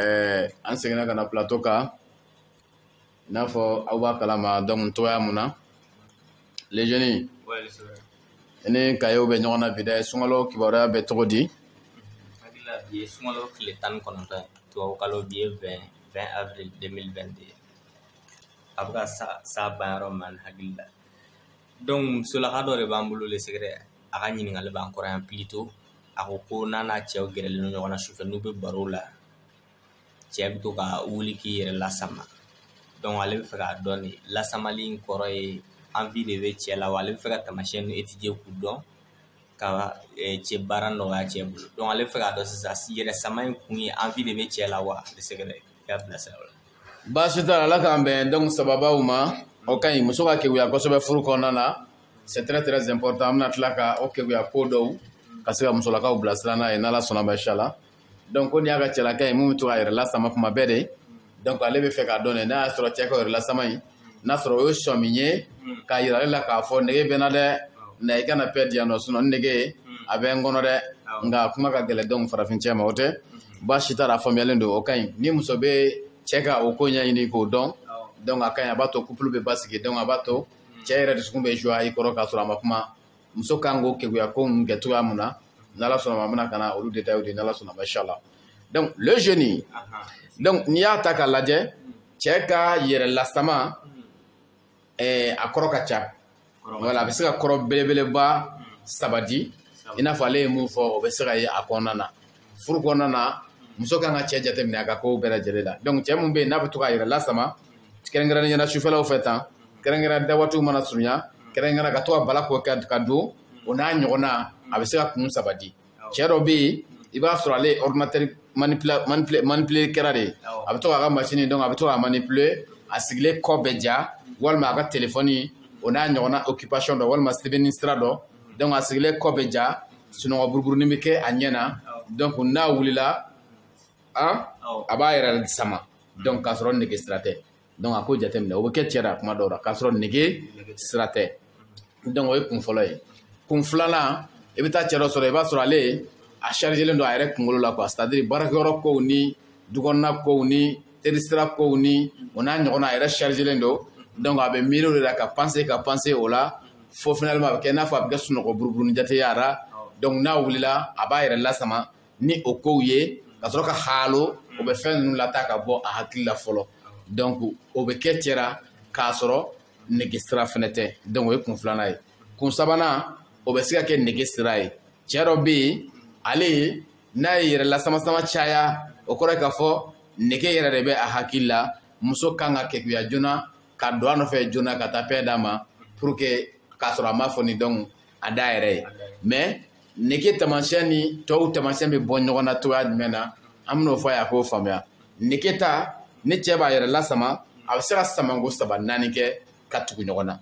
ɛɛ an seginna ka na pilato kan i n'a fɔ aw b'a kalama dɔnku cogoya mun na le génie i ni kayew bɛ ɲɔgɔn na bi dɛ sunkalo kibaruya bɛ cogo di hakili la bi ye sunkalo tile tan ni kɔnɔntɔn ye tubabukalo bi ye 20 20 avril 2022 a bɛ ka sa sa ban yɔrɔ min na hakili la donc musolaka dɔ de b'an bolo le secret a ka ɲininkali b'an kɔrɔ yan plutôt a ko ko n'a n'a cɛw gɛrɛlen don ɲɔgɔn na sufɛ n'u bɛ baro la cɛ bɛ to ka wuli k'i yɛrɛ lasama donc ale bɛ fɛ k'a dɔn de lasamali in kɔrɔ ye envie de bɛ cɛ la wa ale bɛ fɛ ka tamasiyɛn ninnu étudier k'u dɔn ka eh, cɛ baara nɔgɔya cɛ bolo donc ale bɛ fɛ k'a dɔn sisan yɛrɛ sama in kun ye envie de bɛ cɛ la wa le secret k'a bilasira o la baasi t'a la ala k'an bɛn donc sababaw ma o ka ɲi muso ka keguya kosɛbɛ furu kɔnɔna na c'est très très important an bɛna tila ka o keguya ko dɔw ka se ka musolakaw bilasira n'a ye n'ala sɔnna ma inshallah donc ko ni y'a ka cɛlaka ye mun bɛ to k'a yɛrɛ lasama kuma bɛɛ de donc ale bɛ fɛ k'a dɔn de n'a y'a sɔrɔ cɛ ka yɛrɛ lasama in n'a sɔrɔ o ye sɔmi ye k'a yira ale la k'a fɔ nege bɛ n na dɛ na i kana pɛ diyan nɔ sinɔn nege a bɛ n kɔnɔ dɛ nka kuma ka gɛlɛn donc farafin cɛ ma o tɛ baasi t'a la a faamuyalen don o ka ɲi ni muso bɛ cɛ ka o ko ɲɛɲini k'o dɔn donc a ka ɲi a b'a to couple bɛ basigi donc a b'a to cɛ yɛrɛ dusukun bɛ joie i kɔrɔ k'a sɔrɔ a ma kuma muso kan k'o keguya ko in kɛ cogoya mun na n'ala sɔnna ma an bɛna ka na olu detayew di n'ala sɔnna ma inshallah donc le génie donc n'i y'a ta k'a lajɛ cɛ ka yɛrɛ lasama ɛɛ a kɔrɔ ka ca voilà a bɛ se ka kɔrɔ belebeleba saba di i n'a fɔ ale ye mun fɔ o bɛ se ka ye a kɔnɔna na furu kɔnɔna na muso kan ka cɛ jateminɛ a ka kow bɛɛ lajɛlen la donc cɛ mun bɛ yen n'a bɛ to k'a yɛrɛ lasama kɛrɛnkɛrɛnnenya la sufɛlaw fɛ tan kɛrɛnkɛrɛn da waatiw mana surunya kɛrɛnkɛrɛn ka to ka bala ko ka don o n'a ɲɔgɔnna a bɛ se ka kun saba di cɛ dɔ bɛ yen i b'a sɔrɔ ale ordinateur manipule kɛra de a bɛ to k'a ka masini donc a bɛ to k'a manipule a sigilen kɔ bɛ ja walima a ka telefɔni o n'a ɲɔgɔnna occupation dɔ walima sɛbɛnni sira dɔ dɔnku a sigilen kɔ bɛ ja sunɔgɔ buruburunin bɛ kɛ a ɲɛ na dɔnku n'a wulila a b'a yɛrɛ sama dɔnku k'a sɔrɔ nege sira tɛ dɔnku a ko jateminɛ o bɛ kɛ cɛ la kuma dɔw la k'a sɔrɔ nege sira tɛ dɔnku o ye kun fɔlɔ ye kun filanan i bɛ taa cɛ dɔ sɔrɔ i b'a sɔrɔ ale a chargelen don a yɛrɛ kunkolo la quoi c'est à dire baarakɛyɔrɔ kow ni dukɔnɔna kow ni terisira kow ni o n'a ɲɔgɔnna a yɛrɛ chargelen don donc a bɛ miiri o de la ka panse ka panse o la fo finalement a bɛ kɛ i n'a fɔ a bɛ kɛ sunɔgɔ buruburuni jate ye a ra donc n'a wulila a b'a yɛrɛ lasama ni o kow ye ka sɔrɔ ka haalo o bɛ fɛn ninnu lata ka bɔ a hakili la fɔlɔ donc o bɛ kɛ cɛ ra k'a sɔrɔ nege sira fɛnɛ tɛ donc o ye kun filanan ye kun sabanan o bɛ se ka kɛ nege sira ye cɛ dɔ bɛ yen ale ye n'a ye yɛrɛ lasamasama caya o kɔrɔ k'a fɔ nege yɛrɛ de bɛ a hakili la muso kan ka keguya joona ka don a nɔfɛ joona ka taa paix d'a ma pour que k'a sɔrɔ a m'a fɔ ni donc a da yɛrɛ ye mais nege taamasiyɛn ni tɔw taamasiyɛn bɛ bɔ ɲɔgɔn na cogoya jumɛn na an bɛn'o fɔ a ye a k'o faamuya nege ta ni cɛ b'a yɛrɛ lasama a bɛ se ka samanko saba naani kɛ ka tugu ɲɔgɔn na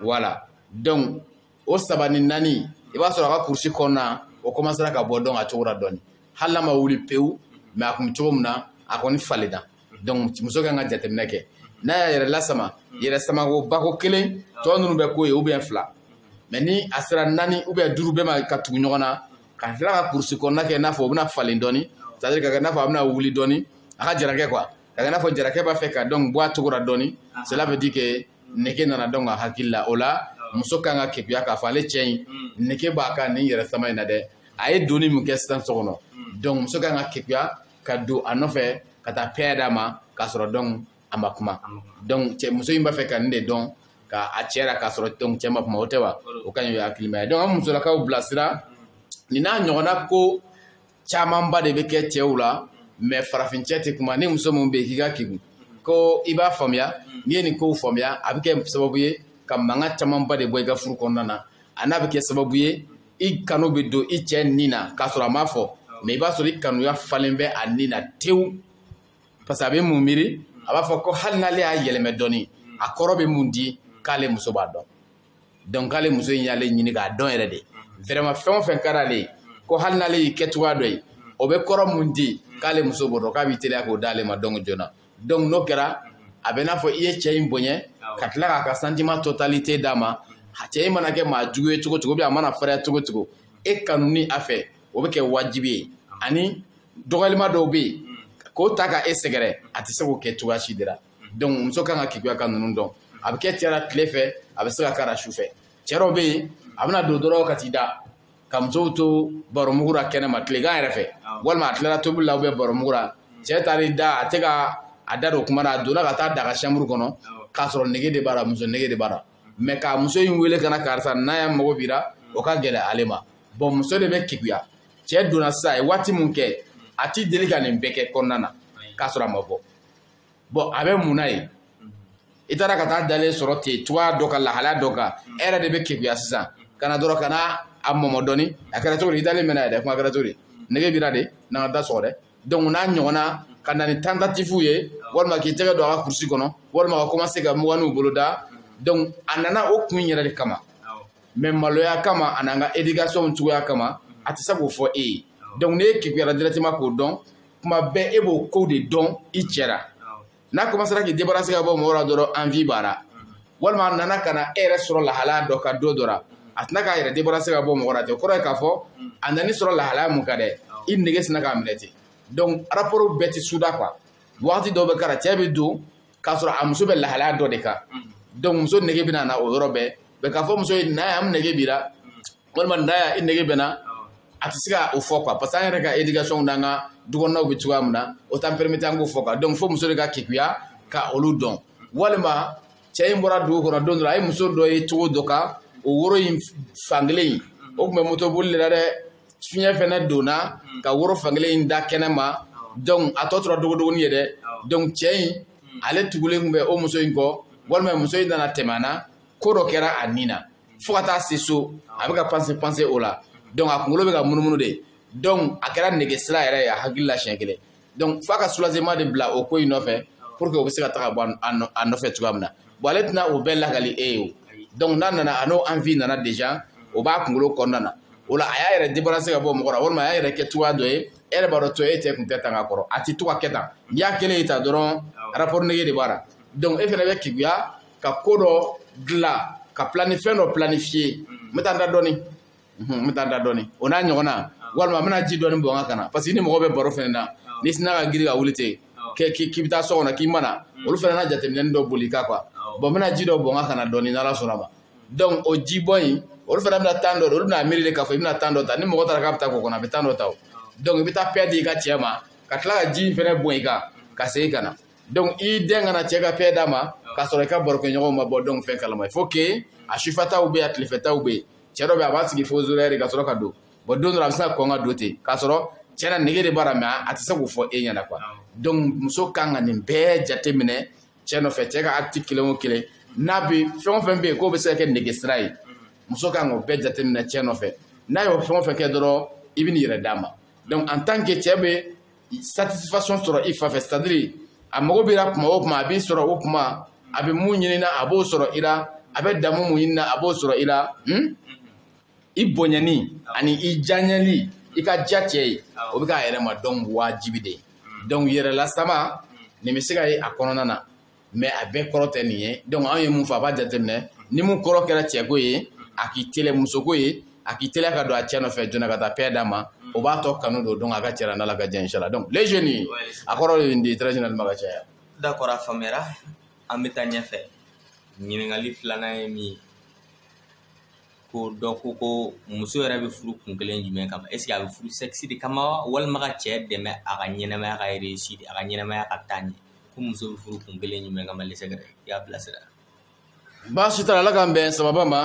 voilà donc o saba ni naani i b'a sɔrɔ a ka kurusi kɔnɔna o kɔmansera ka bɔ donc a cogo la dɔɔni hali n'a ma wuli pewu mais a kun bɛ cogo min na a kɔni falenna donc muso kan ka jateminɛ kɛ n'a y'a yɛrɛ lasama yɛrɛ samako bako kelen tɔ ninnu bɛ k'o ye ou bien fila mais ni a sera naani ou bien duuru bɛɛ ma ka tugu ɲɔgɔn na ka tila ka kurusi kɔnɔna kɛ i n'a fɔ o bɛna falen dɔɔni c'est à dire ka kɛ i n'a fɔ a bɛna wuli dɔɔni a ka jarakɛ quoi ka kan'a fɔ jarakɛ b'a fɛ ka donc bɔ a cogo la dɔɔni cela veut dire que nege nana donc a hakili la o la muso kan ka keguya k'a fɔ ale cɛ in nege b'a kan nin yɛrɛ sama in na dɛ a ye donni min kɛ sisan so kɔnɔ donc muso kan ka keguya ka don a nɔfɛ ka taa paix d'a ma k'a sɔrɔ donc a ma kuma donc cɛ muso in b'a fɛ ka nin de dɔn ka a cɛ la k'a sɔrɔ donc cɛ ma kuma o tɛ wa o ka ɲi o ye hakilimaya ye donc an musolakaw bilasira nin n'a ɲɔgɔnna ko camanba de bɛ kɛ cɛw la mais farafin cɛ tɛ kuma ni muso min bɛ yen k'i ka kegun ko i b'a faamuya n'i ye nin kow faamuya a bɛ kɛ sababu ye ka mankan camanba de bɔ i ka furu kɔnɔna na ani a bɛ kɛ sababu ye i kanu bɛ don i cɛ nin na k'a sɔrɔ a m'a fɔ mais i b'a sɔrɔ i kanuya falen bɛ a nin na tewu parce que a bɛ mun miiri a b'a fɔ ko hali n'ale y'a yɛlɛmɛ dɔɔni a kɔrɔ bɛ mun di k'ale muso b'a dɔn donc k'ale muso in y'ale ɲini k'a dɔn yɛrɛ de vraiment fɛn o fɛn ka d'ale ye ko hali n'ale y'i kɛ cogoya dɔ ye o bɛ kɔrɔ mun di k'ale muso b'o dɔn k'a b'i teliya k'o d'ale ma donc joona donc n'o kɛra a bɛ n'a fɔ i ye cɛ in bonya ka tila k'a ka sentiment totalité d'a ma cɛ in mana kɛ maa jugu ye cogo cogo ou bien a mana fariya cogo cogo e kanuni a fɛ o bɛ kɛ wajibi ye ani dɔgɔyalima dɔw bɛ yen k'o ta ka e sɛgɛrɛ a tɛ se k'o kɛ cogoya si de la donc muso kan ka keguya ka ninnu dɔn a bɛ kɛ cɛ la tile fɛ a bɛ se ka k'a la su fɛ cɛ dɔw bɛ yen a bɛna don dɔrɔn ka t'i da ka musow to baromugu la kɛnɛ ma tilegan yɛrɛ fɛ walima a tilara tobili la ou bien baromugu la cɛ taar'i da a tɛ ka a da don kuma na a donna ka taa d'a ka chambre kɔnɔ k'a sɔrɔ nege de b'a la muso nege de b'a la mais ka muso in wele ka na karisa na yan mago b'i la o ka gɛlɛ ale ma bon muso de bɛ keguya cɛ donna sisan a ye waati min kɛ a tɛ deli ka nin bɛɛ kɛ kɔnɔna na k'a sɔrɔ a ma bɔ bon a bɛ mun na ye i taara ka taa dalen sɔrɔ ten cogoya dɔ kan lahalaya dɔ kan e yɛrɛ de bɛ keguya sisan ka na dɔrɔn ka na a mɔmɔ dɔɔni a kɛra cogo di i dalen mɛnna yɛrɛ kuma kɛra cogo di nege b'i la de n'an ka da sɔgɔ dɛ donc n'a ɲɔgɔnna ka na ni tentative ye walima k'i tɛgɛ don a ka kurusi kɔnɔ walima ka commencer ka muganiw boloda donc a nana o kun yɛrɛ de kama mais maloya kama a n'an ka éducation cogoya kama a tɛ se k'o fɔ e ye donc n'e keguyara directement k'o dɔn kuma bɛɛ e b'o kow de dɔn i cɛ la n'a commencera k'i débarrasser ka bɔ mɔgɔw la dɔrɔn envie b'a la walima a nana ka na e yɛrɛ sɔrɔ lahalaya dɔ kan don dɔ la a tɛna k'a yɛrɛ débarrasser ka bɔ mɔgɔ la ten o kɔrɔ ye k'a fɔ a nan'i sɔrɔ lahalaya mun kan dɛ i nege sinna k'a minɛ ten donc rapport bɛɛ tɛ suda quoi wagati dɔw bɛ kɛra cɛ bɛ don k'a sɔrɔ a muso bɛ lahalaya dɔ de kan donc muso nege bɛna na o yɔrɔ bɛɛ mais k'a fɔ muso ye na yan nege b'i la walima na yan nege bɛ n na a tɛ se ka o fɔ quoi parce que an yɛrɛ ka éducation n'an ka dukɔnɔnaw bɛ cogoya min na o t'an permettre an k'o fɔ quoi donc fo muso de ka keguya ka olu dɔn walima cɛ in bɔra dugu kɔnɔ don dɔ a ye muso dɔ ye cogo dɔ kan o woro in fankelen in o tun bɛ moto boli de la dɛ fiɲɛ fɛnɛ donna k'a woro fankelen in da kɛnɛ ma donc a tɔ tora dogodogoni ye dɛ donc cɛ in ale tugulen tun bɛ o muso in kɔ walima muso in nana tɛmɛ a na ko dɔ kɛra a ni na fo ka taa se so a bɛ ka penser penser o la donc a kunkolo bɛ ka munumunu de donc a kɛra nege sira yɛrɛ ye a hakili la siɲɛ kelen donc f'a ka soulagement de bila o ko in nɔfɛ pour que o bɛ se ka taga bɔ a nɔfɛ cogoya min na bon ale tɛna o bɛɛ lakali e ye o donc n'a nana a n'o envie nana déjà o b'a kunkolo kɔnɔna na o la a y'a yɛrɛ débarrasser ka bɔ mɔgɔ la walima a y'a yɛrɛ kɛ cogoya dɔ ye e yɛrɛ b'a dɔn to e cɛ kun tɛ tan ka kɔrɔ a tɛ to ka kɛ tan n'i y'a kɛlen ye tan dɔrɔn rapport nege de b'a la donc e fana bɛ keguya ka ko dɔ dilan ka fɛn dɔ planifier n bɛ taa n da dɔɔni n bɛ taa n da dɔɔni o n'a ɲɔgɔnna walima n bɛna ji dɔɔni bɔn n kan ka na parce que ni mɔgɔ bɛ baro fɛnɛ na n'i sinna ka girin ka wuli ten k'i bɛ taa so kɔnɔ k'i mana olu fɛnɛ na jateminɛni dɔ boli i kan quoi bon n bɛna ji dɔ bɔn n kan ka na dɔɔni n'ala sɔnna ma donc o ji bɔn in olu fana bɛna temps dɔ de olu bɛna miiri de k'a fɔ i bɛna temps dɔ ta ni mɔgɔ taara k'a bɛ taa ko kɔnɔ a bɛ temps dɔ ta o donc i bɛ taa paix di i ka cɛ ma ka tila ka ji in fana bɔn i kan ka segin ka na donc i den ka na cɛ ka paix d'a ma k'a sɔrɔ i ka barokɛɲɔgɔnw ma bɔ donc fɛn kalama il faut que a sufɛtaw bɛ yen a tilefɛtaw bɛ yen cɛ dɔ bɛ yen a b'a sigi fo zora de ka sɔrɔ ka don bon don dɔ a bɛ se ka kɔn ka don ten k'a sɔrɔ cɛ na nege de b'a la mais a tɛ se k'o fɔ e ɲɛna quoi donc muso kan ka nin bɛɛ jate minɛ cɛ nɔfɛ cɛ ka acte kelen o kelen n'a bɛ fɛn o fɛn bɛ yen k'o bɛ se ka kɛ nege sira ye muso kan k'o bɛɛ jate minɛ cɛ nɔfɛ n'a y'o fɛn o fɛn kɛ dɔrɔn i bɛ n'i yɛrɛ d'a ma donc en tant que cɛ bɛ satisfaction sɔrɔ i fan fɛ c'est à dire a mago b'i la kuma o kuma a b'i sɔrɔ o kuma a bɛ mun ɲini na a b'o sɔrɔ i la a bɛ damu mun ɲini na a b'o sɔrɔ i la hmm? i bonyani ani i janyali i ka diya cɛ ye o bɛ k'a yɛrɛ ma donc wajibi de ye donc yɛrɛlasama nin bɛ se ka ye a kɔnɔna na mais a bɛɛ kɔrɔ tɛ nin ye donc anw ye mun fɔ a b'a jateminɛ ni mun kɔrɔ kɛra cɛko ye a k'i teliya musoko ye a k'i teliya ka don a cɛ nɔfɛ joona ka taa paix d'a ma o b'a to kanu don donc a ka cɛla n'ala ka jɛn inchallah donc les jeunes a kɔrɔ ye nin de ye très généralement ka caya d'accord a faamuyara an bɛ taa ɲɛfɛ ɲininkali filanan ye min ye ko dɔ ko ko muso yɛrɛ bɛ furu kun kelen jumɛn kama a bɛ furu sexe de kama walima ka cɛ dɛmɛ a ka ɲɛnamaya ka réussir a ka ɲɛnamaya ka taa ɲɛ ko muso bɛ furu kun kelen jumɛn kama lesɛgɛrɛ i y'a bilasira baasi t'a la ala k'an bɛn sababa ma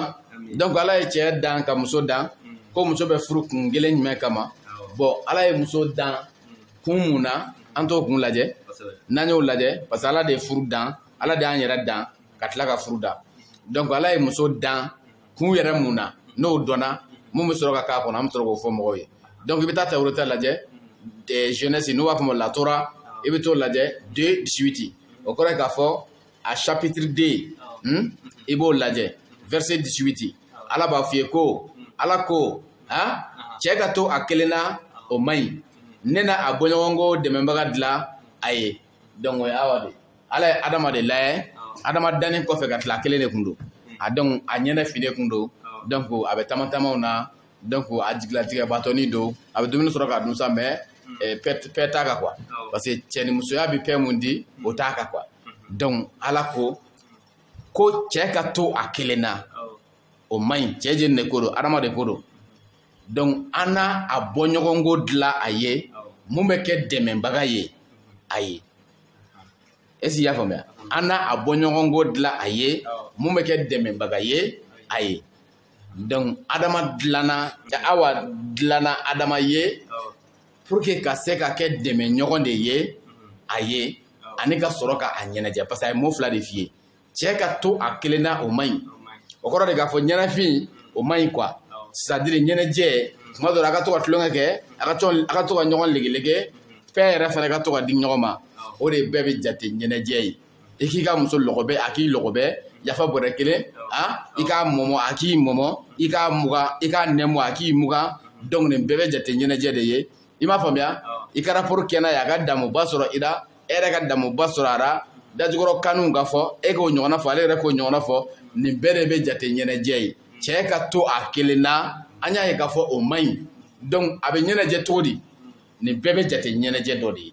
donc ala ye cɛ dan ka muso dan mm. ko muso bɛ furu kun kelen jumɛn kama bɔn ala ye muso dan mm. kun mun na an t'o kun lajɛ n'an y'o lajɛ parce que ala de ye furu dan ala de y'an yɛrɛ dan ka tila ka furu dan donc ala ye muso dan kun yɛrɛ mun na n'o dɔnna mun bɛ sɔrɔ ka k'a kɔnɔ an bɛ sɔrɔ k'o fɔ mɔgɔw ye donc i bɛ taa tawureta lajɛ Genèse n'u b'a fɔ ma la Torah i bɛ t'o lajɛ deux dix-huit o kɔrɔ ye k'a fɔ a chapitre deux hmm? i b'o lajɛ verset dix-huit ala b'a f'i ye ko ala ko ha cɛ ka to a kelen na o man ɲi ne na a bɔɲɔgɔnko dɛmɛbaga dilan a ye donc o ye awa de ala ye adama de lajɛ adama danni kɔfɛ ka tila kelen de kun don a donc a ɲɛnafinnen kun don donc a bɛ tamatamaw na donc a jigilatigɛbatɔni don a bɛ dumuni sɔrɔ ka dun sa mais eh, paix t'a kan quoi parce que cɛnimusoya bɛ paix mun di o t'a kan quoi donc ala ko ko cɛ ka to a kelen na o man ɲi cɛ jɛni de ko don adama de ko don donc an na a bɔɲɔgɔnko dilan a ye mun bɛ kɛ dɛmɛbaga ye a ye est ce que i y'a faamuya an na a bɔɲɔgɔnko dilan a ye mun bɛ kɛ dɛmɛbaga ye a ye donc adama dilanna awa dilanna adama ye pour que ka se ka kɛ dɛmɛɲɔgɔn de ye a ye ani ka sɔrɔ ka a ɲɛnajɛ parce que a ye mot fila de f'i ye cɛ ka to a kelenna o man ɲi o kɔrɔ de k'a fɔ ɲɛnafin o man ɲi quoi c'est à dire ɲɛnajɛ tuma dɔ la a ka to ka tulonkɛ kɛ a ka to a ka to ka ɲɔgɔn legelege fɛn yɛrɛ fana ka to ka di ɲɔgɔn ma o de bɛɛ bɛ jate ɲɛnajɛ ye i k'i ka muso lɔgɔbɛ a k'i lɔgɔbɛ yafa bɔrɛ kelen a i k'a mɔmɔ a k'i mɔmɔ i k'a mugan i k'a nɛmɔ a k'i mugan donc nin bɛɛ bɛ jate ɲɛnajɛ de ye i m'a faamuya i ka rapport kɛ n'a ye a ka damuba sɔrɔ i la e yɛrɛ ka damuba sɔrɔ a la dajukɔrɔ kanunw ka fɔ e k'o ɲɔgɔnna fɔ ale yɛrɛ k'o ɲɔgɔnna fɔ nin bɛɛ de bɛ jate ɲɛnajɛ ye cɛ ka to a kelen na an y'a ye k'a fɔ o man ɲi donc a bɛ ɲɛnajɛ cogo di nin bɛɛ bɛ jate ɲɛnajɛ dɔ de ye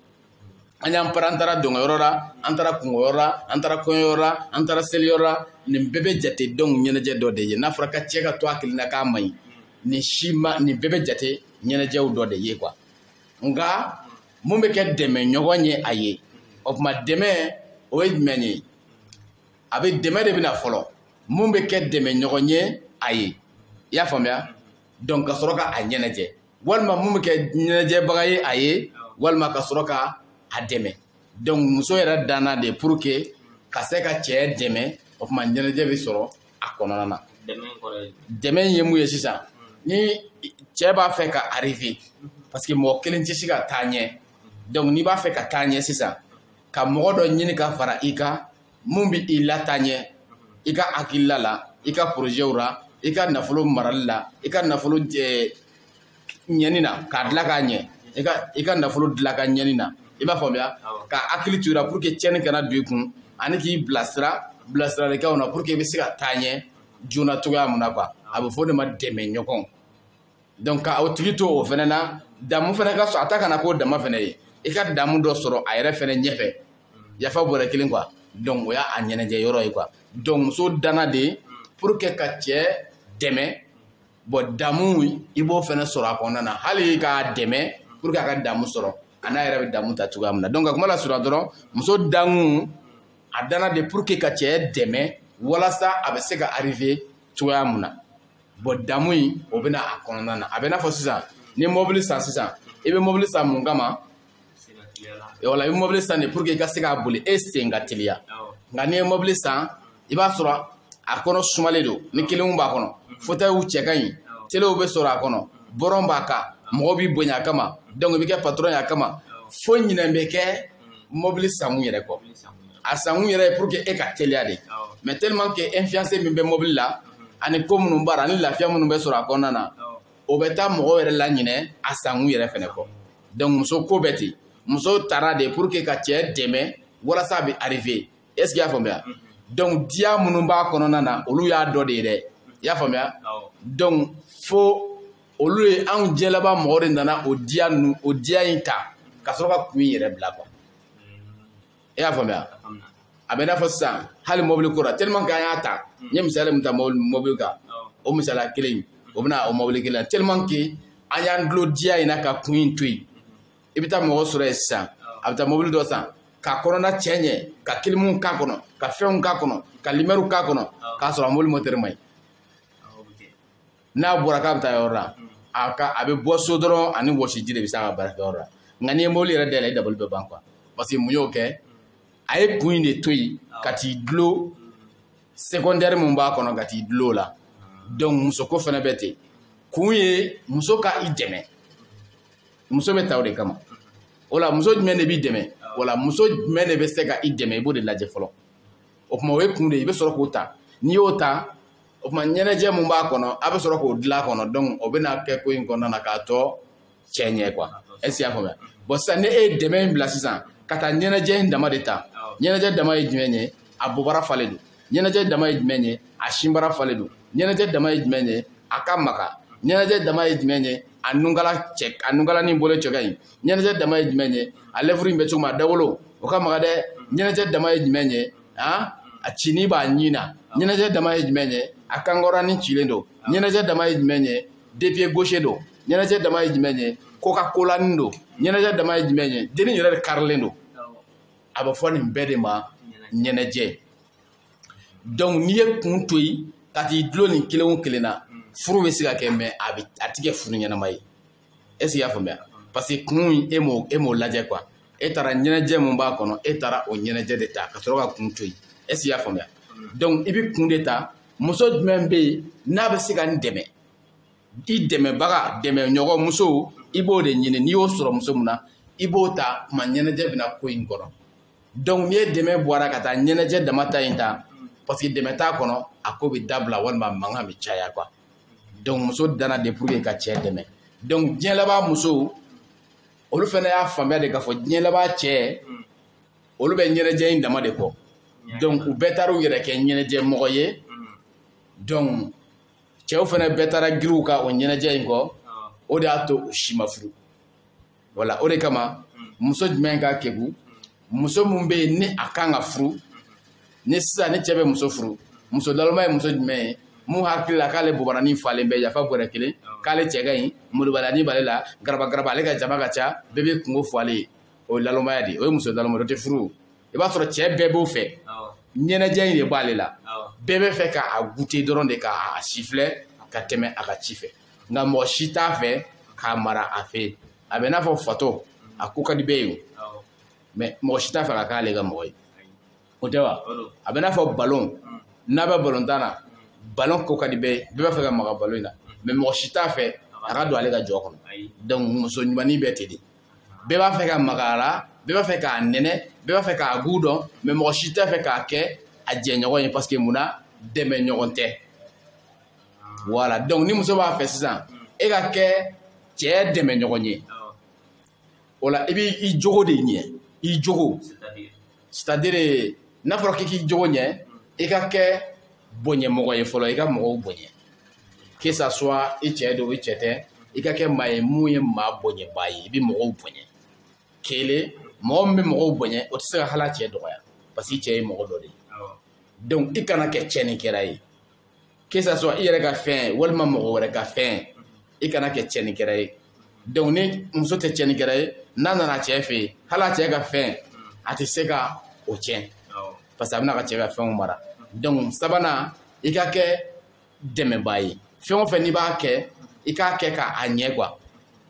an y'an para an taara dɔnkɛyɔrɔ la an taara kungoyɔrɔ la an taara kɔɲɔyɔrɔ la an taara seliyɔrɔ la nin bɛɛ bɛ jate donc ɲɛnajɛ dɔ de ye n'a fɔra ko cɛ ka to a kelen na k'a man ɲi nin si ma nin bɛɛ bɛ jate ɲɛnajɛw dɔ de ye quoi nka mun bɛ kɛ dɛmɛɲɔgɔn ye a ye o tuma dɛmɛ o ye jumɛn ye a bɛ dɛmɛ de bɛ na fɔlɔ mun bɛ kɛ dɛmɛɲɔgɔn ye a ye i y'a faamuya donc ka sɔrɔ ka a ɲɛnajɛ walima mun bɛ kɛ ɲɛnajɛbaga ye a ye walima ka sɔrɔ ka a dɛmɛ donc muso yɛrɛ danna de pour que ka se ka cɛ dɛmɛ o tuma ɲɛnajɛ bɛ sɔrɔ a kɔnɔna na dɛmɛ ye mun ye sisan ni cɛ b'a fɛ ka arriver parce que mɔgɔ kelen tɛ se ka taa ɲɛ donc n'i b'a fɛ ka taa ɲɛ sisan ka mɔgɔ dɔ ɲini ka fara i kan mun bɛ i lataa ɲɛ i ka hakilila la i ka porozɛw la i ka nafolo marali la i ka nafolo ɲɛni na k'a dilan k'a ɲɛ i ka i ka nafolo dilan ka ɲɛni na i b'a faamuya ka hakili to i la pour que tiɲɛni kana don i kun ani k'i bilasira bilasiralikanw na pour que i bɛ se ka taa ɲɛ joona cogoya mun na quoi a bɛ fɔ o de ma dɛmɛɲɔgɔn donc ka o tigi to o fana na damu fana ka sɔrɔ a ta kana k'o dama fana ye i ka damu dɔ sɔrɔ a yɛrɛ fana ɲɛfɛ yafa bɔrɛ kelen quoi donc o y'a ɲɛnajɛ yɔrɔ ye quoi donc muso danna de pour que ka cɛ dɛmɛ bon damu i b'o fana sɔrɔ a kɔnɔna na hali k'a dɛmɛ pour que a ka damu sɔrɔ a n'a yɛrɛ bɛ damu ta cogoya min na donc ka kuma lasurunya dɔrɔn muso dankun a danna de pour que ka cɛ dɛmɛ walasa a bɛ se ka arriver cogoya min na bon damu in o bɛ na a kɔnɔna na a bɛ n'a fɔ sisan ni mɔbili san sisan i bɛ mɔbili san mun kama wala i bɛ mɔbili san de pour que i ka se k'a boli e sen ka teliya nka n'i ye mɔbili san i b'a sɔrɔ a kɔnɔ sumalen don ni clim b'a kɔnɔ fotɛyiw cɛ ka ɲi telew bɛ sɔrɔ a kɔnɔ bɔrɔn b'a kan mɔgɔw b'i bonya a kama donc i bɛ kɛ patron ye a kama fo ɲinɛ bɛ kɛ mɔbili sankun yɛrɛ kɔ a sankun yɛrɛ ye pour que e ka teliya de mais tellement que influence min bɛ mɔbili la ani ko minnu b'a la ani lafiya minnu bɛ sɔrɔ a kɔnɔna na o bɛ taa mɔgɔw yɛrɛ laɲinɛ a sankun yɛrɛ fɛnɛ kɔ donc muso ko bɛ ten muso taara de pour que ka cɛ dɛmɛ walasa a bɛ arriver est ce que i y'a faamuya mhm. donc diya minnu b'a kɔnɔna na olu y'a dɔ de ye dɛ i y'a faamuya donc fo olu ye anw diɲɛ laban mɔgɔ de nana o diya ninnu o diya in ta ka sɔrɔ ka kun in yɛrɛ bila quoi i y'a faamuya a bɛ n'a fɔ sisan hali mɔbili ko la tellement que an y'a ta n ye misali min ta mɔbili kan o misaliya kelen in o bɛna o mɔbili kelen tellement que an y'an dulon diya in na ka kun in to yen i bɛ taa mɔgɔ sɔrɔ yen sisan a bɛ taa mɔbili dɔ san ka kɔnɔna cɛ ɲɛ ka kilimu k'a kɔnɔ ka fɛnw k'a kɔnɔ ka limɛriw k'a kɔnɔ k'a sɔrɔ a mɔbili mɔtɛri man ɲi n'a bɔra k'a bɛ taa yɔrɔ la a bɛ bɔ so dɔrɔn ani wɔsiji de bɛ se a ka baarakɛ yɔrɔ la nka n'i ye mobili yɛrɛ dayɛlɛ i dabali bɛ ban quoi parce que mun y'o kɛ a ye kun in de to yen ka t'i dulon secondaire min b'a kɔnɔ ka t'i dulon o la donc musoko fana bɛ ten kun ye muso ka i dɛmɛ muso bɛ ta o de kama o la muso jumɛn de b'i dɛmɛ wala muso jumɛn de bɛ se ka i dɛmɛ i b'o de lajɛ fɔlɔ o tuma o ye kun de ye i bɛ sɔrɔ k'o ta n'i y'o ta o tuma ɲɛnajɛ min b'a kɔnɔ a bɛ sɔrɔ k'o dilan a kɔnɔ donc o bɛna kɛ ko in kɔnɔna na k'a tɔ cɛ ɲɛ quoi est-ce i y'a faamuya bon sisan ni e ye dɛmɛ in bila sisan ka taa ɲɛnajɛ in dama de ta ɲɛnajɛ dama ye jumɛn ye a bobara falen don ɲɛnajɛ dama ye jumɛn ye a sinbara falen don ɲɛnajɛ dama ye jumɛn ye a ka maga ɲɛnajɛ dama ye jumɛn ye a nunkala ni bolo cɛ ka ɲi ɲɛnajɛ dama ye jumɛn ye a lèvre in bɛ cogo min a dawolo o ka maga dɛ ɲɛnajɛ dama ye jumɛn ye a cini b'a ɲin na ɲɛnajɛ dama ye jumɛn ye a kankɔrɔnin cilen don ɲɛnajɛ dama ye jumɛn ye deux pieds gauches don ɲɛnajɛ dama ye jumɛn ye coca-colanin don ɲɛnajɛ dama ye jumɛn ye deni yɛrɛ de karilen don a bɛ fɔ nin bɛɛ de ma ɲɛnajɛ donc n'i ye kun to yen ka t'i dulon nin kelen o kelen na furu bɛ se ka kɛ mais a ti kɛ furu ɲɛnama ye est-ce i y'a faamuya parce que kun in e m'o e m'o lajɛ quoi e taara ɲɛnajɛ min b'a kɔnɔ e taara o ɲɛnajɛ de ta ka sɔrɔ ka kun to yen est-ce i y'a faamuya donc i bɛ kun de ta muso jumɛn bɛ yen n'a bɛ se ka n dɛmɛ i dɛmɛbaga dɛmɛɲɔgɔn muso i b'o de ɲini n'i y'o sɔrɔ muso min na i b'o ta o tuma ɲɛnajɛ bɛ na ko in kɔnɔ donc n'i ye dɛmɛ bɔ a la ka taa ɲɛnajɛ dama ta in ta parce que dɛmɛ t'a kɔnɔ a ko bɛ dabila walima mankan bɛ caya quoi donc muso dana de pour que ka cɛ dɛmɛ donc diɲɛ laban muso olu fana y'a faamuya de k'a fɔ diɲɛ laban cɛ olu bɛ ɲɛnajɛ in dama de kɔ donc u bɛɛ taara u yɛrɛ kɛ ɲɛnajɛ mɔgɔ ye donc cɛw fana bɛɛ taara girin u ka o ɲɛnajɛ in kɔ o de y'a to u si ma furu voilà o de kama muso jumɛn ka kegun muso min bɛ yen ni a kan ka furu ni sisan ni cɛ bɛ muso furu muso laloma ye muso jumɛn ye min hakili la k'ale bobaranin falen bɛ yafa bɔrɛ kelen k'ale cɛ ka ɲi moribalani b'ale la garabagaraba ale ka jama ka ca bɛɛ bɛ kungo fɔ ale ye o ye lalomaya de ye o ye muso laloma o tɛ furu i b'a sɔrɔ cɛ bɛɛ b'o fɛ ɲɛnajɛ in de b'ale la bɛɛ bɛ fɛ k'a goûter dɔrɔn de k'a sifilɛ ka tɛmɛ a ka ci fɛ nka mɔgɔ si t'a fɛ k'a mara a fɛ yen a bɛ n'a fɔ fatɔ a ko ka di bɛɛ ye o mais mɔgɔ si t'a fɛ ka k'ale ka mɔgɔ ye o tɛ wa a bɛ n'a fɔ balon n'a bɛ balontan na balon ko ka di bɛɛ ye bɛɛ b'a fɛ ka maga balon in na mais mɔgɔ si t'a fɛ a ka don ale ka jɔ kɔnɔ donc muso ɲumannin bɛ ten de bɛɛ b'a fɛ ka maga a la bɛɛ b'a fɛ k'a nɛnɛ bɛɛ b'a fɛ k'a goût dɔn mais mɔgɔ si t'a fɛ k'a kɛ a jɛɲɔgɔn ye parce que mun na dɛmɛɲɔgɔn tɛ voilà donc ni muso b'a fɛ sisan e ka kɛ cɛ dɛmɛɲɔgɔn ye o la i bɛ i jogo de ɲɛ i jogo c'est à dire n'a fɔra k'i k'i jogo ɲɛ i ka kɛ bonyɛmɔgɔ ye fɔlɔ i ka mɔgɔw bonya que ça soit i cɛ don i cɛ tɛ i ka kɛ maa ye mun ye maa bonyɛbaa ye i bɛ mɔgɔw bonya kelen mɔgɔ min bɛ mɔgɔw bonya o tɛ se ka hali a cɛ dɔgɔya parce que i cɛ ye mɔgɔ dɔ de ye donc i kana kɛ cɛnnikɛla ye que ça soit i yɛrɛ ka fɛn walima mɔgɔ wɛrɛ ka fɛn i kana kɛ tiɲɛnikɛla ye donc ni muso tɛ tiɲɛnikɛla ye n'a nana cɛ fɛ yen hali a cɛ ka fɛn a tɛ se ka o tiɲɛ parce que a bɛna k'a cɛ ka fɛnw mara donc sabanan i ka kɛ dɛmɛbaa ye fɛn o fɛn n'i b'a kɛ i k'a kɛ k'a ɲɛ quoi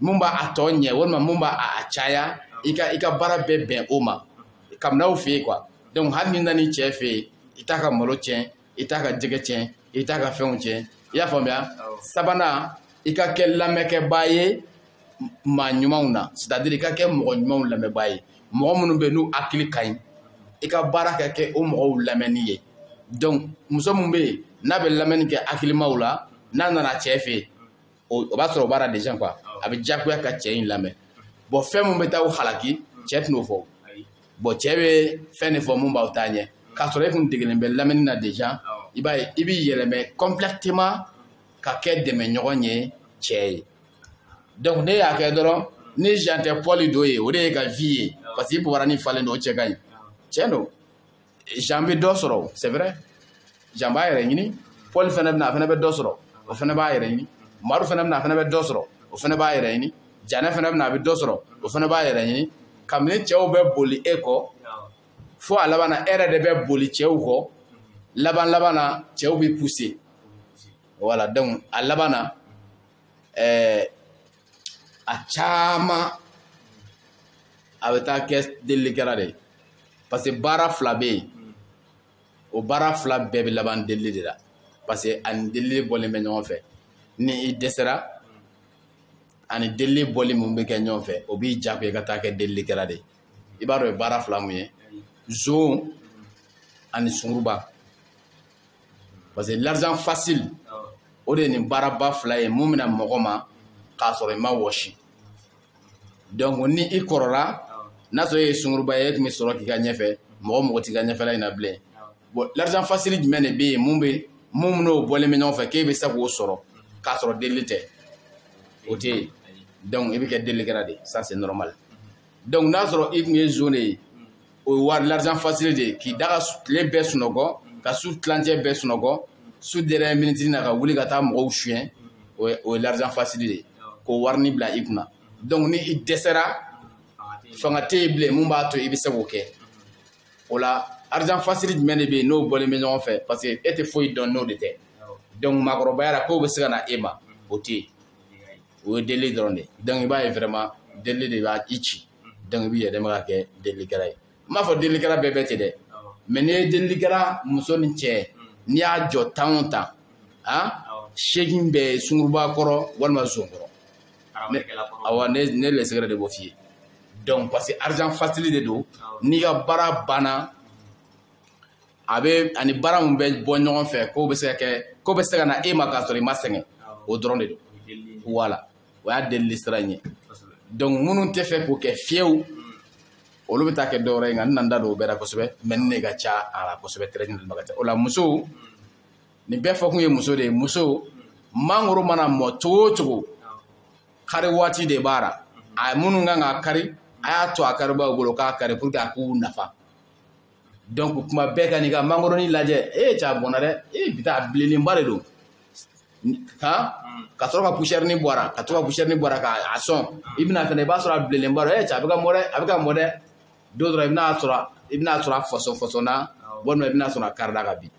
mun b'a a tɔ ɲɛ walima mun b'a a caya i ka i ka baara bɛɛ bɛn o ma kabini aw fɛ yen quoi donc hali n'i nana i cɛ fɛ yen i t'a ka malo tiɲɛ i t'a ka jɛgɛ tiɲɛ i t'a ka fɛnw tiɲɛ i y'a faamuya sabanan i ka kɛ lamɛnkɛbaa ye maa ɲumanw na c'est à dire i ka kɛ mɔgɔ ɲumanw lamɛnbaa ye mɔgɔ minnu bɛ yen n'u hakili ka ɲi i ka baara ka kɛ o mɔgɔw lamɛnni ye donc muso min bɛ yen n'a bɛ lamɛnni kɛ hakilimaw la n'a nana cɛ fɛ yen o b'a sɔrɔ o b'a la déjà quoi a bɛ diyagoya ka cɛ in lamɛn bon fɛn min bɛ taa aw halaki cɛ tɛna o fɔ bon cɛ bɛ fɛn de fɔ mun b'aw taa ɲɛ k'a sɔrɔ e kun degelen bɛ lamɛnni na déjà i b'a ye i b'i yɛlɛmɛ complètement ka kɛ dɛmɛɲɔgɔn ye cɛ ye donc n'e y'a kɛ dɔrɔn ni jan tɛ pɔli dɔ ye o de y'i ka vie ye parce que i bobaranin falen don o cɛ ka ɲi cɛn don jan bɛ dɔ sɔrɔ c'est vrai jan b'a yɛrɛ ɲini pɔli fana bɛ na a fana bɛ dɔ sɔrɔ o fana b'a yɛrɛ ɲini madu fana bɛ na a fana bɛ dɔ sɔrɔ o fana b'a yɛrɛ ɲini janɛ fana bɛ na a bɛ dɔ sɔrɔ o fana b'a yɛrɛ ɲini kabini cɛw bɛ boli e kɔ fo a laban na e yɛrɛ de bɛ boli cɛw kɔ laban laban na cɛw b'i pousser voilà donc a laban na ɛɛ a caman a bɛ taa kɛ delilikɛla de ye parce que baara fila bɛ yen o baara fila bɛɛ bɛ laban delili de la parce que a ni delili bɔlen bɛ ɲɔgɔn fɛ ni i dɛsɛra a ni delili bɔli mun bɛ kɛ ɲɔgɔn fɛ o b'i diyagoya i ka taa kɛ delilikɛla de ye i b'a dɔn o ye baara fila mun ye zon ani sunguruba parce que l'argent facile o de ye nin baaraba fila ye mun bɛ na mɔgɔ ma k'a sɔrɔ i ma wɔsi donc ni i kɔrɔla n'a sɔrɔ e ye sunguruba ye e tun bɛ sɔrɔ k'i ka ɲɛfɛ mɔgɔ mago t'i ka ɲɛfɛla in na bilen bon l'argent facile jumɛn de bɛ yen mun bɛ mun n'o bɔlen bɛ ɲɔgɔn fɛ k'e bɛ se k'o sɔrɔ k'a sɔrɔ delili tɛ o tɛ yen donc i bɛ kɛ delikɛla de ça c'est normal donc n'a sɔrɔ i tun ye zon de ye o ye wari l'argent facile de ye k'i da ka tile bɛɛ sunɔgɔ ka su tilancɛ bɛɛ sunɔgɔ su dernière minitini na ka wuli ka taa mɔgɔw suyɛn o ye o ye l'argent facile de ye k'o warini bila i kunna donc ni i dɛsɛra fanga tɛ yen bilen mun b'a to i bɛ se k'o kɛ o la argent facile jumɛn de bɛ yen n'o bɔlen bɛ ɲɔgɔn fɛ parce que e tɛ foyi dɔn n'o de tɛ donc maakɔrɔbaya la k'o bɛ se ka na e ma o tɛ yen o ye deli dɔrɔn de donc i b'a ye vraiment deli de b'a i ci donc i bɛ yɛlɛma ka kɛ delikɛla ye n m'a fɔ delikɛla bɛɛ bɛ ten dɛ mais n'i ye delikɛla muso ni cɛ n'i y'a jɔ tan o tan a seegin bɛ sunguruba kɔrɔ walima zon kɔrɔ awa ne lɛsɛgɛrɛ de b'o f'i ye donc parce que argent facile de don n'i ka baara banna a bɛ ani baara mun bɛ bɔ ɲɔgɔn fɛ k'o bɛ se ka kɛ k'o bɛ se ka na e ma k'a sɔrɔ i ma sɛgɛn o dɔrɔn de don voilà o y'a delili sira in ye donc minnu tɛ fɛ k'o kɛ fiyewu olu bɛ taa kɛ dɔwɛrɛ ye nka n na n da don o bɛɛ la kosɛbɛ mais ne ka ca a la kosɛbɛ tɛrɛ ɲinini ka ca o la musow nin bɛɛ fɔkun ye muso de ye muso mangoro mana mɔ cogo o cogo kari waati de b'a la a minnu kan k'a kari a y'a to a karibaw bolo k'a kari pour que a k'u nafa donc kuma bɛɛ ka n'i ka mangoroni lajɛ e ye cɛ a bɔnna dɛ e bi ta a bilenlenba de don ka sɔrɔ ka pusɛrini bɔ a ra ka to ka pusɛrini bɔ a ra k'a sɔn i bɛ na fɛnɛ i b'a sɔrɔ a bilenlenba don e cɛ a bɛ ka mɔ dɛ a bɛ ka mɔ dɛ don dɔ la i bɛna sɔrɔ i bɛna sɔrɔ a fɔsɔn fɔsɔnna walima i bɛna sɔrɔ a karida ka bin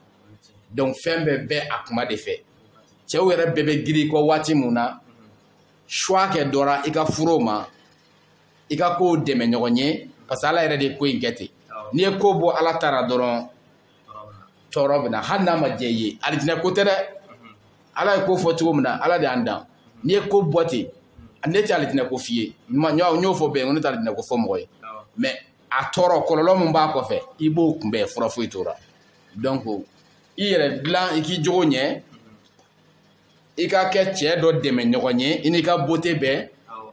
donc fɛn bɛɛ bɛ a kuma de fɛ cɛw yɛrɛ bɛɛ bɛ girin i kɔ waati mun na choix kɛ dɔ ra i ka furu o ma i ka k'o dɛmɛɲɔgɔn ye parce que ala yɛrɛ de ye ko in kɛ ten n'i ye ko bɔ ala ta ra dɔrɔn tɔɔrɔ bɛ na hali n'a ma diya i ye alijinɛ ko tɛ dɛ ala ye ko fɔ cogo min na ala de y'an dan n'i ye ko bɔ ten ne tɛ alijinɛ ko f'i ye n y'o fɔ bɛɛ ye ko ne tɛ alijinɛ ko fɔ mɔgɔ ye mais a tɔɔrɔ kɔlɔlɔ min b'a kɔfɛ i b'o kunbɛn fura foyi t'o la donc i yɛrɛ dilan i k'i jogo ɲɛ i ka kɛ cɛ dɔ dɛmɛ ɲɔgɔn ye i n'i ka beauté bɛɛ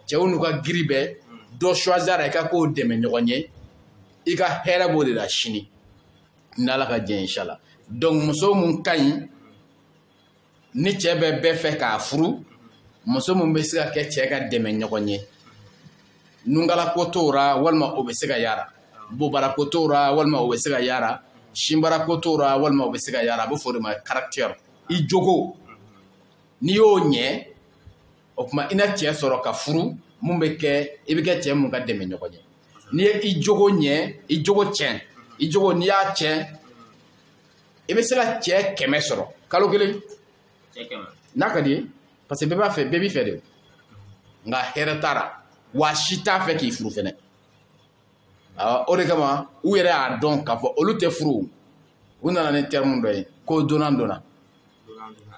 cɛw n'u ka giri bɛɛ dɔ choisir i ka k'o dɛmɛ ɲɔgɔn ye i ka hɛrɛ b'o de la sini n'ala ka jɛ inshallah donc muso mun ka ɲi ni cɛ bɛɛ b'a fɛ k'a furu muso mun bɛ se ka kɛ cɛ ka dɛmɛ ɲɔgɔn ye nungalako t'o ra walima o bɛ se ka y'a ra bobarako t'o ra walima o bɛ se ka y'a ra sinbarako t'o ra walima o bɛ se ka y'a ra a bɛ fɔ o de ma caractère i jogo n'i y'o ɲɛ o tuma i na cɛ sɔrɔ ka furu mun bɛ kɛ i bɛ kɛ cɛ mun ka dɛmɛ ɲɔgɔn ye n'i ye i jogo ɲɛ i jogo tiɲɛ i jogo n'i y'a tiɲɛ i bɛ se ka cɛ kɛmɛ sɔrɔ kalo kelen n'a ka d'i ye parce que bɛɛ b'a fɛ bɛɛ b'i fɛ de nka hɛrɛ t'a la wa si t'a fɛ k'i furu fɛnɛ o de kama u yɛrɛ y'a dɔn k'a fɔ olu tɛ furu u nana ni terme dɔ ye ko donnant donnant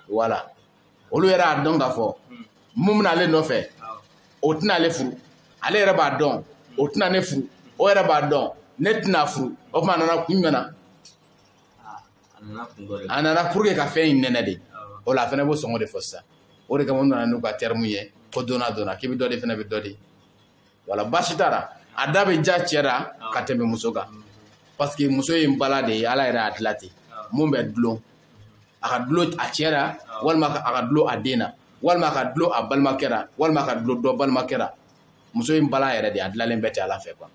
voilà olu yɛrɛ y'a dɔn k'a fɔ mun bɛna ale nɔfɛ o tɛna ale furu ale yɛrɛ b'a dɔn o tɛna ne furu o yɛrɛ b'a dɔn ne tɛna furu o tuma a nana kun jumɛn na a nana pour que ka fɛn in nɛnɛ de o la a fana b'o sɔngɔ de fɔ sisan o de kama u nana n'u ka terme ye ko donnant donnant k'i bɛ dɔ di fana bɛ dɔ di voilà baasi t'a la a da bɛ diya cɛ la ka tɛmɛ muso kan parce que muso ye npalan de ye ala yɛrɛ y'a dilan ten mun bɛ dulon a ka dulon a cɛ la walima a ka dulon a den na walima a ka dulon a balimakɛ la walima a ka dulon dɔ balimakɛ la muso ye npalan yɛrɛ de a dilanlen bɛ ten ala fɛ quoi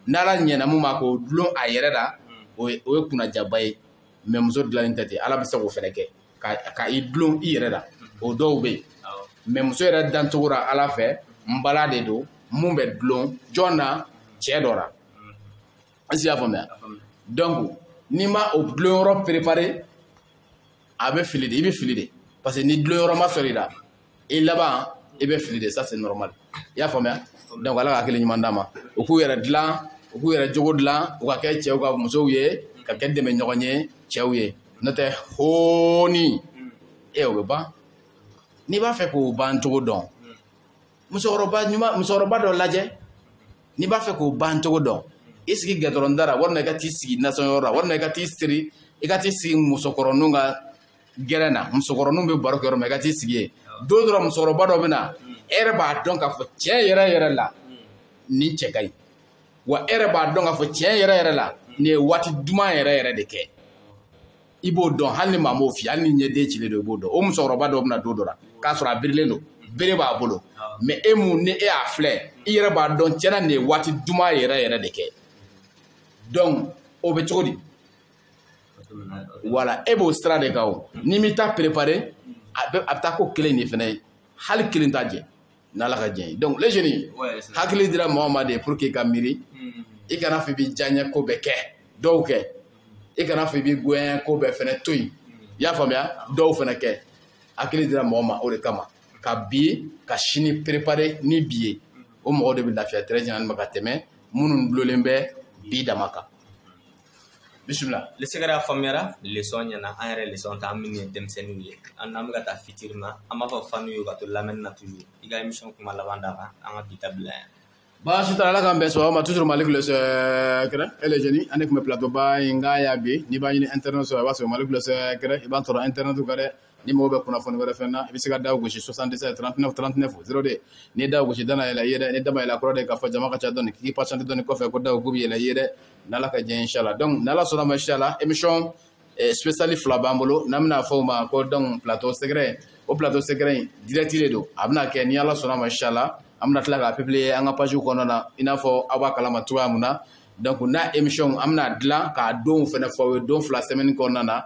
n'ala ɲɛna mun ma k'o dulon a yɛrɛ la o ye o ye kunnadiyaba ye mais muso dilanlen tɛ ten ala bɛ se k'o fɛnɛ kɛ ka i dulon i yɛrɛ la o dɔw bɛ yen mais muso yɛrɛ dancogo la ala fɛ npalan de don mun bɛ dulon jɔn na cɛ dɔ la est-ce i y'a faamuya donc n'i ma o dulon yɔrɔ préparer a bɛ fili de i bɛ fili de parce que ni dulon yɔrɔ ma sɔrɔ i la i laban i bɛ fili de ça c'est normal i y'a faamuya donc ala ka hakili ɲuman d'a ma u k'u yɛrɛ dilan u k'u yɛrɛ jogo dilan u ka kɛ cɛw ka musow ye ka kɛ dɛmɛ ɲɔgɔn ye cɛw ye n'o tɛ hooni e o bɛ ban n'i b'a fɛ k'o ban cogo dɔn musokɔrɔba ɲuman musokɔrɔba dɔ lajɛ n'i b'a fɛ k'o ban cogo dɔn i sigi gɛtɔrɔnda la walima i ka t'i sigi nasɔnyɔrɔ la walima i ka t'i siri i ka t'i sigi musokɔrɔninw ka gɛrɛn na musokɔrɔninw bɛ baro kɛ yɔrɔ min i ka t'i sigi yen don dɔ la musokɔrɔba dɔ bɛ na e yɛrɛ b'a dɔn k'a fɔ tiɲɛ yɛrɛ yɛrɛ la nin cɛ ka ɲi wa e yɛrɛ b'a dɔn k'a fɔ tiɲɛ yɛrɛ yɛrɛ la nin ye waati duman yɛrɛ yɛrɛ de kɛ i b'o dɔn hali ni maa m'o f'i ye hali ni ɲɛden cilen don i b'o dɔn o musokɔrɔba dɔ bɛ na don dɔ la k'a sɔrɔ a birilen don bere b'a bolo mais e mun ni e y'a filɛ i yɛrɛ b'a dɔn tiɲɛ na nin ye waati duman yɛrɛ yɛrɛ de kɛ donc o bɛ cogo di voilà e b'o sira de kan o n'i m'i ta préparer a bɛ a bɛ taa ko kelen de fana ye hali kelen t'a jɛ n'ala ka jɛ ye donc les jeunes hakili dira mɔgɔ ma de pour k'i ka miiri i kana fɔ i b'i diyaɲɛ ko bɛɛ kɛ dɔw kɛ i kana fɔ i b'i goyanya ko bɛɛ fana to yen i y'a faamuya dɔw fana kɛ hakili dira mɔgɔ ma o de kama ka bi ka sini préparer ni bi ye o mɔgɔ de bɛ lafiya très généralement ka tɛmɛ minnu dulolen bɛ bi dama kan bisimila le secret a faamuyara leçon ɲɛna an yɛrɛ leçon ta an minnu ye denmisɛnninw ye an n'an bɛ ka taa fitiri ma an b'a fɔ fanw ye ka to lamɛnni na toujours i ka émission kuma laban d'a kan an ka bi ta bila yan baasi t'a la ala k'an bɛn sɔgɔma ma toujours malick le secret et les jeunes an de tun bɛ plateau ba in kan yan bi n'i b'a ɲini internet sɔrɔ i b'a sɔrɔ malick le secret i b'a sɔrɔ internet kan dɛ ni mɔgɔ bɛ kunnafoni wɛrɛ fɛn na i bɛ se ka da gosi 77 39 39 02 n'i da gosi da na yɛlɛ i ye dɛ ni da ma yɛlɛ kɔrɔ de k'a fɔ jama ka ca dɔɔni k'i patiente dɔɔni kɔfɛ ko da k'u bɛ yɛlɛ i ye dɛ n'ala ka diɲɛ inshallah donc n'ala sɔnna ma inshallah émission eh, spéciale fila b'an bolo n'an bɛna fɔ o ma ko donc plateau secret o plateau secret in direct de don a bɛna kɛ ni ala sɔnna ma inshallah an bɛna tila k'a publier an ka page kɔnɔna na i n'a fɔ aw b'a kalama cogoya min na donc n'a émission an bɛna dilan k'a donw fana fɔ aw ye don fila semaine kɔnɔna na